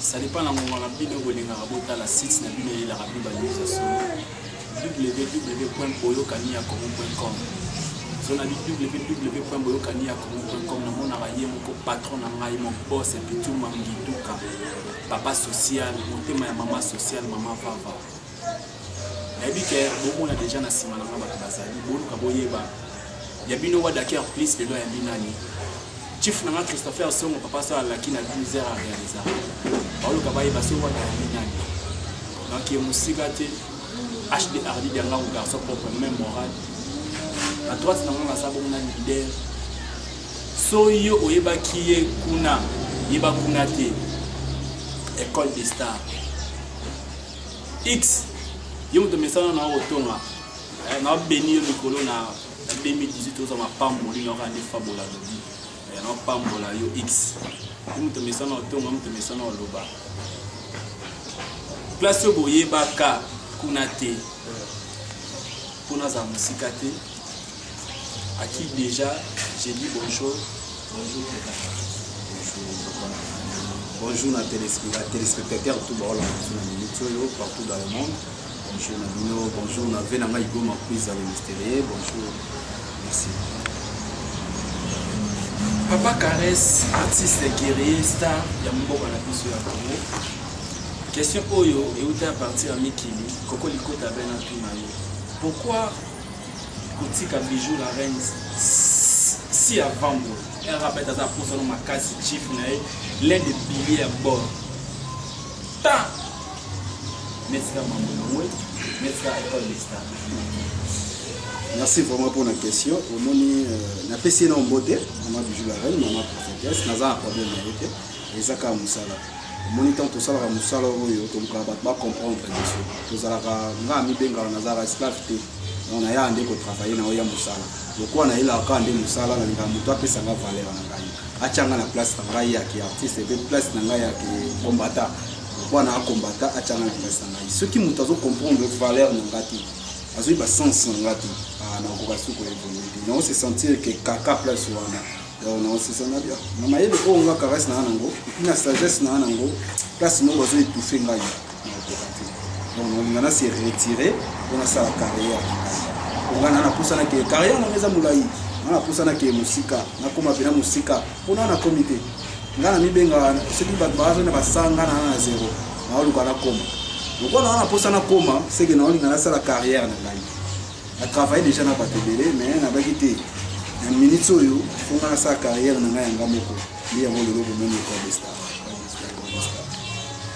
Ça dépend na ngonga na bino bolingaka botala site na bino eyelaka bino ba news ya solo www.boyokaniyakongo.com zona bi www.boyokaniyakongo.com namonaka ye moko patron na ngai mon boss epitu mangiduka papa social motema ya mama social mama vava nayebi ke bomona deja na nsima na nga bato bazali boluka boyeba ya bino wadaker plus lelo ayambi nani chief na nga christopher songo papa so alaki na 12 heures arealisa baoluka bayeba so wada ayambi nani donc ye mosika te hd ardi diangango garçon propre même moral na droite na nga naza bongo na leader so yo oyebaki ye kuna yeba kuna te école de star X yo moto mesana na otonga eh, na beni yo likolo na 2018 oza mapamboli na okande fabola lobi eh, na pambola yo X yo moto mesana otonga moto mesana oloba place oyo boyebaka kuna te mpo nazala mosika te À qui déjà j'ai dit bonjour. Bonjour Teta. Bonjour na téléspectateur tout ba ola sur la minute oyo partout dans le monde. Bonjour na bino, bonjour na vena ngai goma quiz à mystérieux. Bonjour. Merci. Papa Caresse, artiste guerrier star ya mboka na biso ya Congo. Question oyo euta à partir ya mikili, koko likota bena tuna yo. Pourquoi kotika bijou la reine si avant ngo rapet aza posano makasi chief na ye l'un de pilier ya bord ta netika mambo na ngwe netika école de star merci vraiment mpona question omoni euh, napesi ye na ombo te mama bijou la reine mama prophétesse naza na problème na ye te eza kaka mosala omoni ntango tosalaka mosala oyo tolukaka bato bacomprendre biso tozalaka nga amibengaka nazalaka esclave te donc nayaka nde kotravaille na oya mosala lokola nayelaka kaka nde mosala nalingaka moto apesa nga valeur na ngai atya nga na place na ngai ya kiartiste mpe place na ngai ya kombata lokola na akombata atya nga na place na ngai soki moto azocomprendre valeur na ngai te azoyeba sense na ngai te ah, nakoka suku ya evolue te nao se sentir ke kaka place wana donc na osesa na bia na mayele oyo nga caresse na nango epuis na sagesse na nango place moko bazo étouffe ngai nakoka te donc nalinga na se retire mpo nasala carrière mpo ngai na napusana ke carrière nanga eza molai nga napusana ke mosika nakoma mpena mosika mpo na nakomi te nga namibenga soki bato bazali na basanga na na zero naoluka nakoma lokola naa napusana koma seke naolinga nasala carrière na ngai Na travaille dejà na bato ebele mais nabaki te na minutes oyo mpo ngai nasala carrière na ngai ya ngai moko nde yango lelo bomoni ecole de star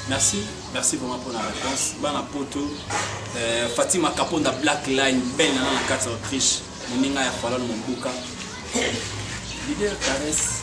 merci merci vraiment pour la réponse bana poto euh, fatima kaponda black line belle nana na kati ya autriche moninga ya falon mombuka leader caresse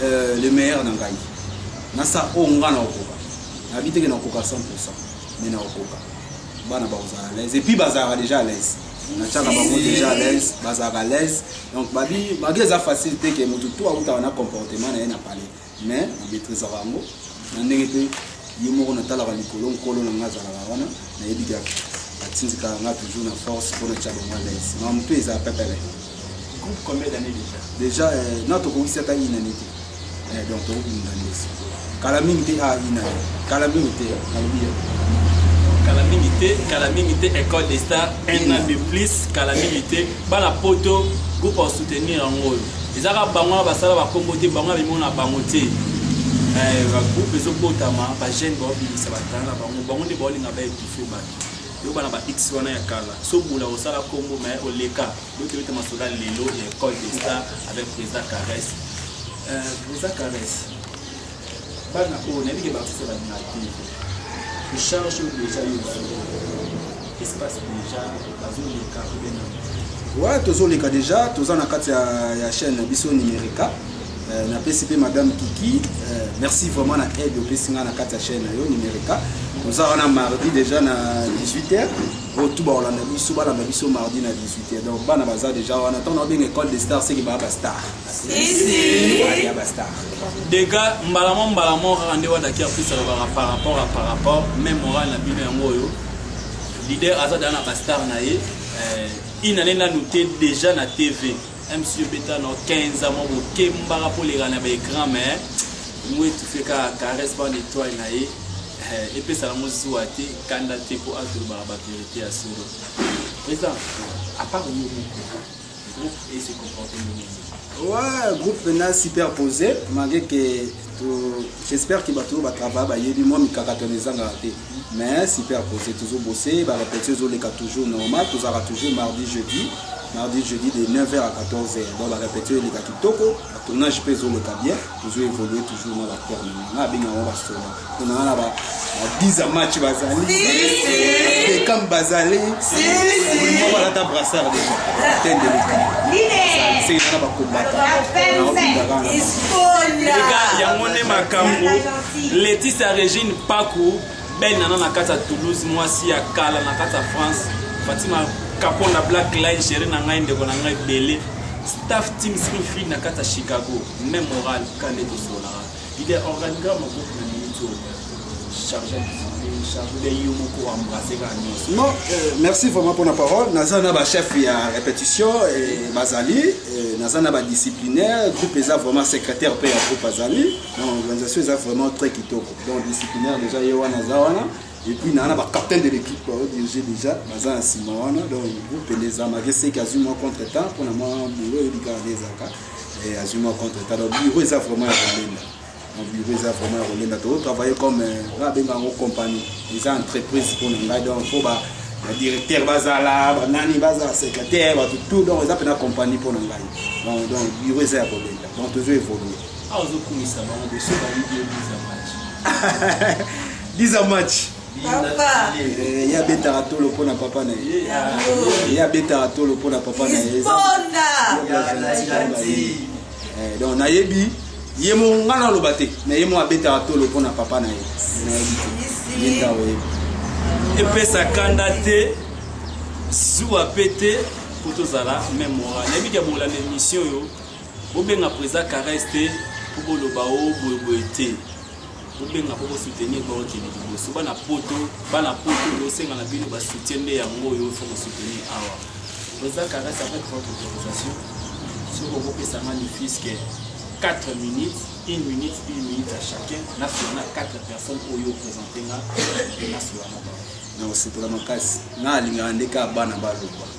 Euh, le meilleur na ngai nasala oyo ngai nakokoka nayebi teke nakokoka 100 pourcent mais nakokoka bana bakozala à l'aise epuis bazalaka déjà à l'aise natyaka bango déjà à l'aise bazalaka à l'aise donc babi magi eza facile te ke motu to autaka na comportement na ye na palais mais namaîtrisaka yango na ndenge mpe ye moko natalaka likolo nkolo na ngai azalaka wana nayebi kaka atindikaka ngai toujours na force mpo natya bango à l'aise mamu mpe eza pepele groupe combien d'années déjà déjà euh, na tokokisi ata une année te euh, donc tokobunda ndesi kala mingi te ah une année kala mingi te nalobi ye kala mingi te kala mingi te école des stars un an de plus kala mingi te bana poto groupe ya soutenir yango oyo ezaka bango wana basala bakombo te bango abimona bango te bagroupe ezobotama bajeune baobimisa batala na bango bango nde baolinga baekife bato Yo bana ba X wana ya kala, so bula osala kombo mais oleka. Yo kebete masoda lelo ya école de star avec Président Caresse. Euh, Président Caresse. Bana oyo nayebi ke ba sala na te. Charge déjà yo espace déjà bazoleka obena ouais tozoleka déjà toza na kati ya, ya chaîne na biso numerica Euh, napesi mpe madame kiki euh, merci vraiment na aide opesi ngai na kati ya chaîne na yo numerica toza wana mardi déjà na 18 heures oyo tu bakolanda biso balanda biso mardi na 18 heures donc bana baza déjà wana ntango naobenga école de star seke baa bastar ya bastar dega mbala mo mbala mo kaka nde wadaki afrisa lobaka par rapport a par rapport mai moral na bino yango oyo leader aza daa na bastar na ye euh, inane nanu te déjà na tv Monsieur beta no 15 mwa bokembaka mpo oleka na baecran mais ngo etufe kaka caresse bande etoile na ye eh, epesaka yango zuwa te kanda te mpo atolobaka baverité ya solo président apart yo moko groupe ese comporte ndenge ouais groupe na superposé malgré que J'espère que bato oyo batravaille bayebi mwa mikakatano ezangaka te mais superpose tozo bose barepetio ezoleka toujours normal tozalaka toujours mardi jeudi mardi jeudi de 9h à 14h donc barepetio eleka kitoko batournage mpe ezoleka bien tozo évolue toujours na baterme nga abenga yango basoda mpona wana Adiza match bazali Beckham bazali Bruno balata brassard déjà ten de l'équipe sengeli na bakombata yango nde makambo Laetitia Regine Paku belle nana na kati ya Toulouse mwasi ya kala na kati ya France Fatima Kapon na Black Line chérie na ngai ndeko na ngai bele staff team Smithfield na kati ya Chicago même moral kande tosolaka Leader, organigramme ya groupe na minute oyo charge ya discipline, charge ya yo moko embrasser kaka nyonso. Non, euh, merci vraiment mpo na parole. Naza na ba chef ya répétition eh, bazali eh, naza na ba disciplinaire groupe eza vraiment secrétaire mpe ya groupe azali na organisation eza vraiment très kitoko donc disciplinaire déjà ye wana aza wana et puis naa na ba captain de l'équipe bao dirige déjà baza na nsima wana donc groupe elezamaki seki azwi mwa contre temps mpo na mwa boulot eyebi kaka nde ezalaka eh, azwi mwa contre talo bureau eza vraiment ya kolemba bureau eza vraiment ya kolemba tokotravaille comme eh, nga abenga yango compagnie eza entreprise mpo na ngai donc mpo ba directeur bazala banani bazala secrétaire bato tout donc eza mpena compagnie mpo na ngai donc donc bureau eza ya kolemba donc tozo évolue aozokumisa bango boso bayibi yo 10 match 10 match Eh, ye abetaka tolo mpo na papa na ye ye abetaka tolo mpo na papa na ye eh, donc nayebi ye moko ngai naloba te na ye moko abetaka tolo mpo na papa na ye nayebi te ye nda oyebi epesa kanda te zuwa mpe te mpo tozala meme ora nayebi ke bolanda émission oyo bobenga présa caresse te mpo boloba o oh, boyeboye te bobenga mpo bosoutenir baokende liboso bana poto bana poto bosenga na bino basoutien nde yango oyo fo bosoutenir awa président caresse avec votre autorisation soki okopesa nga lifiske 4 minutes une minute une minute à chacun na fiana 4 personnes oyo opresente nga na solana ba na osepela makasi na alingaka nde kaka bana baloba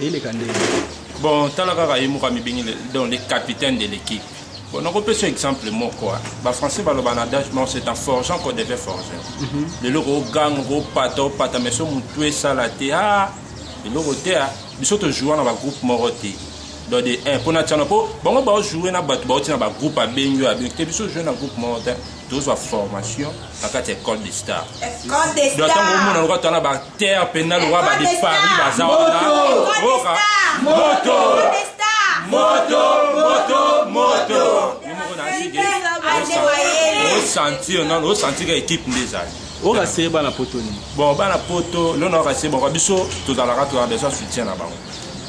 eleka nde bon tala kaka ye moko amibengi donc le capitaine de l'équipe bon nakopesa exemple moko bafrançais baloba na adage moko c'est en forgeant qu'on devait forger mhm. lelo koganga kopata opata mais so motu esala te a eloko te a biso tojoua na bagroupe moko te donc de un mpo na tiana mpo bango baojoue na bato bauti na bagroupe abengi oyo abengi te biso ojoue na groupe moko te tozwa formation na kati ya ecole de star do ntango omona loka tala baterre mpena loka bade paris baza wana boka moto moto moto moto yo moko na asike osentir nano osentika ekipe nde ezali okaseye bana poto nini bon bana poto lona okaseye bango biso tozalaka tozala besoin soutien na bango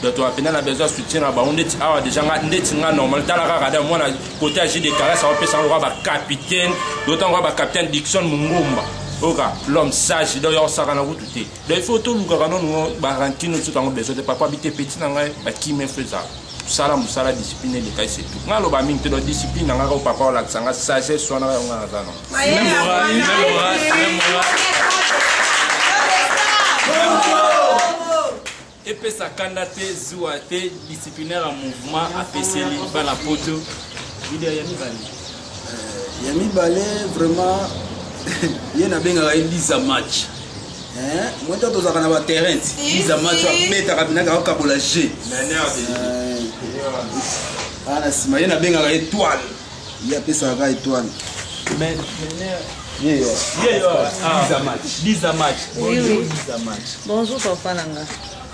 bato ya mpena na besoin ya soutien na bango ndeti awa deja nga ndeti nga normal tala kaka da mwana kote ya jide kalas aopesa yango kaka bacapitaine dotango kaka bacapitaine dikson mongomba oka l'homme sage donc yaosakana kutu te donc il faut tolukaka nono barantino soki yango besoin te papa bite peti na ngai bakimi efo ezala sala mosala discipline eleka ese tu ngai aloba mingi te donc discipline na ngai ko papa olakisa ngai sagesse wana yango ngai naza nango epesa kanda te zuwa te disciplinaire ya mouvement apeseli bana poto video ya mibale euh, ya mibale vraiment ye nabengaka ye liza match moi ntango tozalaka na baterrain liza match abetaka binaka akabola je aa na nsima ye nabengaka etoile Ye apesaka kaka etoile. Mais Nener, Ye yo. Ye yo. Ah. Biza match. Biza match. Oui, oui. Biza match. Bonjour papa na nga.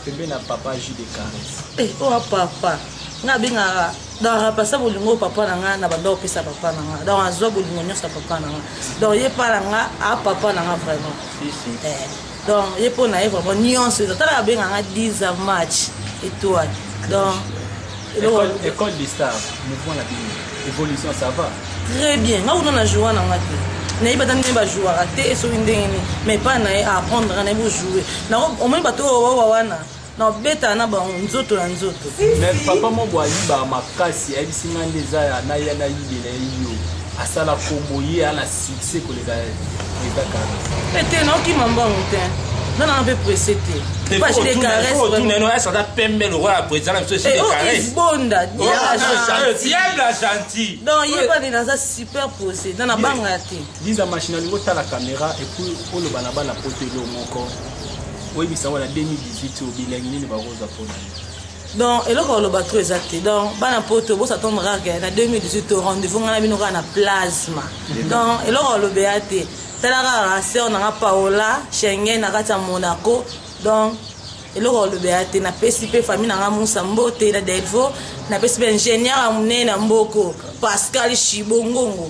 Pembe na papa jus de caresse. Eh, oh papa. Nga bengaka donc apesa bolingo papa na nga na banda opesa papa na nga donc azwa bolingo nyonso ya papa na nga donc ye pa na nga a papa na nga vraiment si, si. Eh. donc ye mpo na ye vraiment nyonso eza tala abenga nga 10 a match étoile donc école de star mouvement na bino évolution ça va très bien nga kuna na joua na nga te nayebi ata ndenge bajouaka te soki ndenge nini mais epai na ye aapprendre nga nayebi ojoue omoni bato oyo bawa wana na obetaka na bango nzoto na nzoto mais papa moko ayibaka makasi ayebisi ngai nde eza ya na ya nayibela ye yo asala kombo ye ana succès koleka eza kaka ete naokima mbongo te nana na mpe presse te ata pembe lokola president na biso esibonda diable gentil donc ye bani naza super pose nana banga te liza machine alingi otala caméra epuis oloba na bana poto elo moko oyebisa wana 2018 oyo bilengi nini bakozwa mpo na donc eloko ya loba trop eza te donc bana poto bosatondre kaka na 2018 to rendez-vous ngai na bino kaka na plasma donc eloko ya loba ya te tala kaka sœur nanga paola schengen na kati ya monaco donc eloko ya loba ya te napesi mpe famille nanga musa mbote na delvo napesi mpe ingénieur ya monene ya mboko pascal shibongongo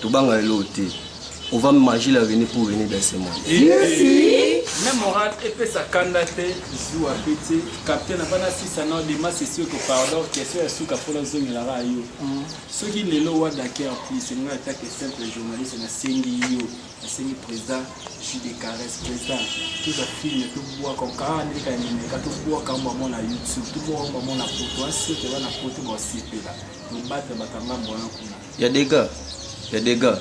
Tobanga elo te. On va manger la venue pour venir dans ce monde. Même moral epesa kanda te zuwa mpe te capitaine abana sisa na dema sesi oko pardon question ya suka mpo nazongelaka yo soki lelo wadaker plus elinga atake simple journaliste nasengi yo nasengi président jus de caresse président toza filme tobwaka okaa ndenge kanemeka tobwaka yango bango na youtube tobwaka yango bango na poto asio toza na poto baosepela tobata bakanga mbona kuna ya dega ya dega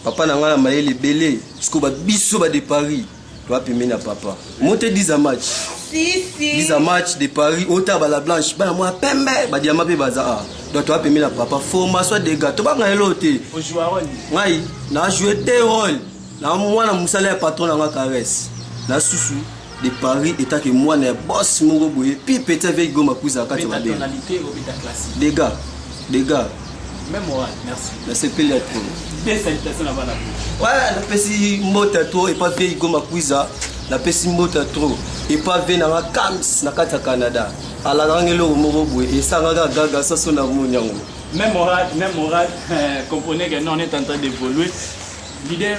papa na ngai na mayele ebele siko ba biso ba de paris toa pembeni ya papa mote 10 a match si, si. 10 a match de paris ota bala blanche bana mwa pembe badiama mpe baza a donc toa pembeni ya papa formation dega tobanga eloo te ngai na joue te role na mwana mosala ya patron na ngai caresse na susu de Paris etake mwana ya boss moko boye pi petit avec goma kuza kati ya mabe dega dega nasepeli ya trop napesi mbota to epa vieyi goma kuiza napesi mbota trop epa vie nanga cams na kati ya canada alakanga eloko moko boye esangaka gaga saso na moni yango même oral même oral comprenez que non on est en train d'évoluer leader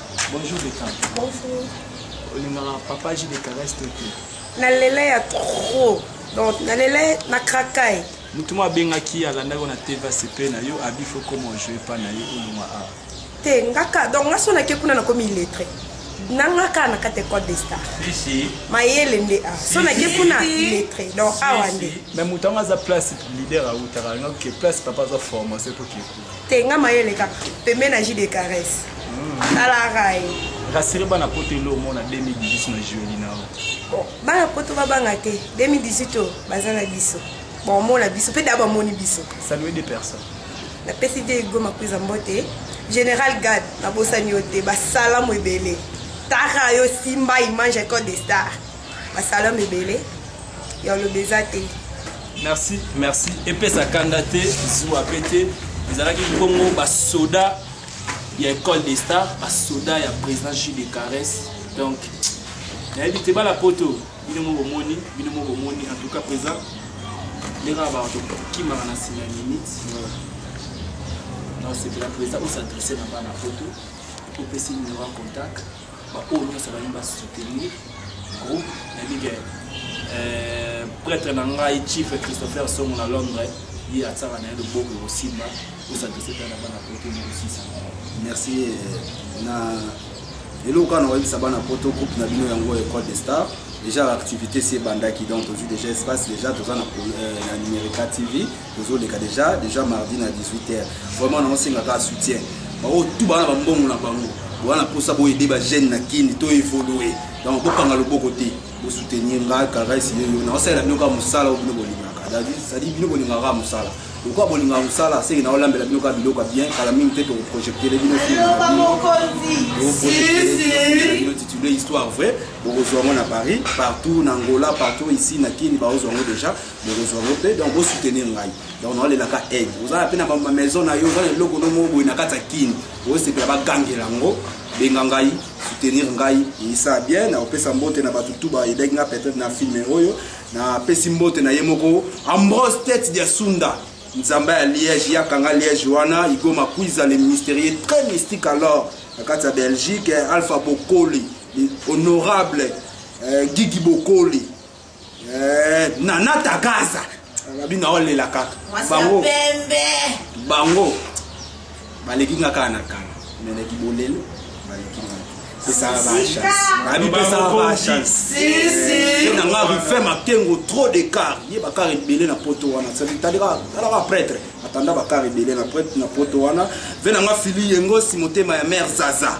Bonjour Beckham. Bonjour. Olingaka papa J de caresse te te. Nalela ya trop. Donc nalela na krakai. Mutu mo abengaki alandaki na TV CP na yo abi faut comment jouer pas na ye oluma a. Te ngaka donc nga sona ke kuna na komi illettré. nanga kaka na kati ecole de star mayele nde a so nake kuna lettre donc awa nde mais moto yango aza place leader autaka yango ke place papa aza formation epoki te nga mayele kaka pembe na ji de caresse talaka ye rasire bana poto elo omona 2018 na jueli na yo bana poto babanga te 2018 oyo baza na biso baomona biso mpe da bamoni biso salue de personne napesi te ego makuiza mbote général gad nabosani yo te basalamu ebele tara yo simba image ya code de star ba salon ebele ya olobi eza te merci merci epesa kanda te zuwa pe te ezalaki bongo basoda ya école des stars basoda ya président jus de caresse donc nayebi te bala poto bino mo bomoni bino mo bomoni en tout cas président ndenge na bato kimaka na nsima ya minute naosepela président osadresse na bana poto opesi numero ya contact Ba oyo nionso ba ba soutenir groupe na bige euh, prêtre na ngai chief Christopher Songo na Londres ye atsaka na ye loboko ekosimba osadrese mpe na bana poto mokosisa merci euh, na eloko wana oyebisa bana poto groupe na bino yango école de star déjà l'activité si ebandaki donc tozwi déjà espace déjà toza na euh, numerica tv Tozo leka deja deja mardi na 18h. Vraiment na osenga ka soutien. Ba o tout bana ba mbongo na bango. Wana posa bo aider ba jeunes na kin to évoluer. Donc bo kanga loboko te. Bo soutenir nga caresse yo yo. Na osala bino ka musala bino bolingaka. Dadi sadi bino bolingaka ka musala. Pourquoi bolingaka musala seki na olambela bino ka biloko bien kala mingi te to projecter bino film. Ba mokonzi. Si si. Bino titulaire histoire vraie. Bokozwa ngo na Paris, partout na Angola, partout ici na Kin ba ozwa ngo déjà. bokozwa ngo mpe donc bosoutenir ngai donc naolelaka aide ozala mpe na bamaison na yo oza na eloko no moko boye na kati ya kini osepela bagangela yango benga ngai soutenir ngai eyisa bien na kopesa mbote na bato tu baedaki nga peut-être na filme oyo napesi mbote na ye moko ambrose tete dia sunda nzambe ya liège yakanga liège wana igoma kuiza le mystérieux très mystique alors na kati ya belgique alpha bokoli honorable euh, gigi bokoli Eh, nana tagaza nabi na olela kaka bango bango baleki nga kaka na kala me na kibolelo baleki nga pesaka bachance pesaka bachancenanga rife makengo trop de car ye bakar ebele na poto wana talaka prêtre atanda bakar ebele na poto wana ve nanga fili yengosi motema ya mare zaza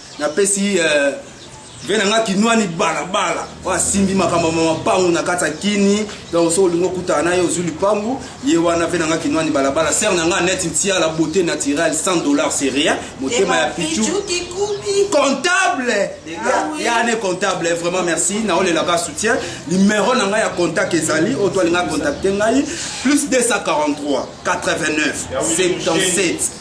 napesi euh, ve na nga kinwani balabala oyo asimbi makambo ma mapangu na kati ya kini donc soki olingi okutana na ye ozwi lipangu ye wana ve na nga kinwani balabala sere na nga neti ntiala beauté naturelle 100 dollars c'est rien motema ya pichu comptable ah ya ne comptable eh, vraiment merci naolelaka soutien numero na ngai ya contact ezali oyo to alinga contacte ngai plus 243 89 77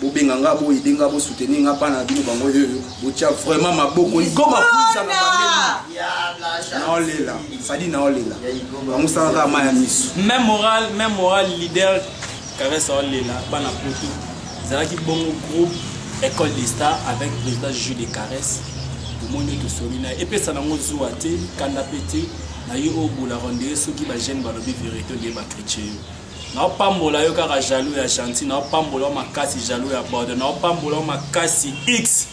bobenga nga bo aider nga bo soutenir nga bana na bino bango yoyo botia vraiment maboko igoma kuza na bande naolela sadi naolela bango salaka ma ya miso même moral même moral leader caresse aolela bana poto ezalaki bongo groupe école des stars avec président jeu de caresse omoni tosoli na epesa nango zuwa te kanda mpe te na ye oyo bola rendee soki bagene balobi verité nde bakritike yo naopambola yo kaka jaloux ya gentil naopambola yo makasi jaloux ya borde naopambola yo makasi x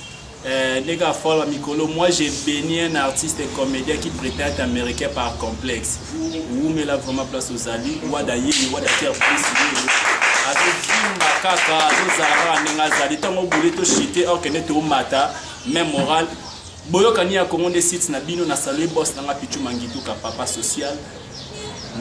eh, nde kaka fale ba mikolo moi j'ai béni un artiste et comédien qui prétend être américain par complexe wumela vraiment place ozali wada yeye wada ter plus yeye azovimba kaka azozala kaka ndenge azali ntango obule toshite okende tomata même moral boyokani ya kongo nde site na bino na salue bos nanga pichu mangituka papa social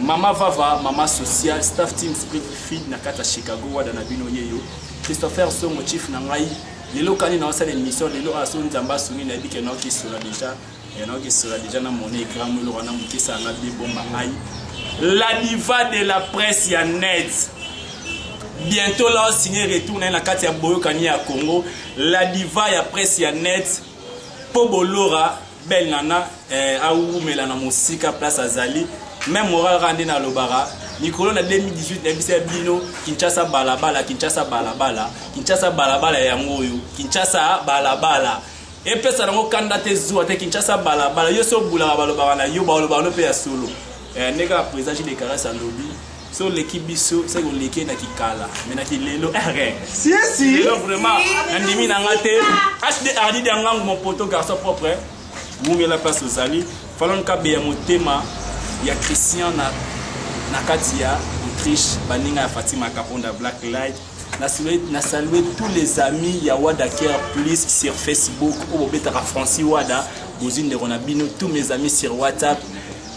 Mama Vava, mama social, staff team Spirit Feed na kata Chicago wada na bino yeyo. Christopher Songo chief na ngai. Lelo kani na osala émission lelo aso nzamba sungi na bike na oki sura déjà. Ya na oki sura déjà na mona écran mulo wana mukisa na bi bomba ngai. La diva de la presse ya net. Bientôt là signé retour na kati ya boyokani ya Congo. La diva ya presse ya net. Po bolora belle nana eh, awumela na mosika place azali meme moral kaka nde nalobaka mikolo na 2018 nayebisa ya bino kinshasa balabala kinshasa balabala kinshasa balabala yango oyo kinshasa balabala epesa nango kanda te zuwa te kinshasa balabala yo so obulaka balobaka na yo balobaka no mpe ya solo eh, ndenge ya président jidekarasi alobi so oleki biso seke oleki na kikala me na kilelo lelo vraiment nandimi na nga te hd ardi diangangu mon poto garçon propre wumela place ozali falon kabe ya motema ya christian na, na kati ya autriche baninga ya fatima kaponda black light na salue, na salue tous les amis ya wada care plus sur facebook oyo bobetaka francis wada bozwi ndeko na bino tous mes amis sur whatsapp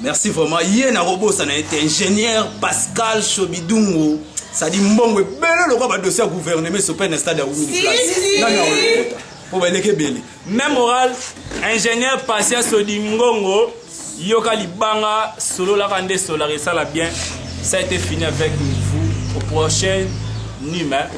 Merci vraiment. Ye na robosa na ete ingénieur Pascal Chobidungu. Ça dit mbongo ebele lokola ba dossier ya gouvernement esope na stade ya Wumini Place. Nani akolokota? Po baleki ebele. Même oral ingénieur Pascal Sodingongo yoka libanga sololaka nde solaka esala bien. Ça a été fini avec vous au prochain numéro.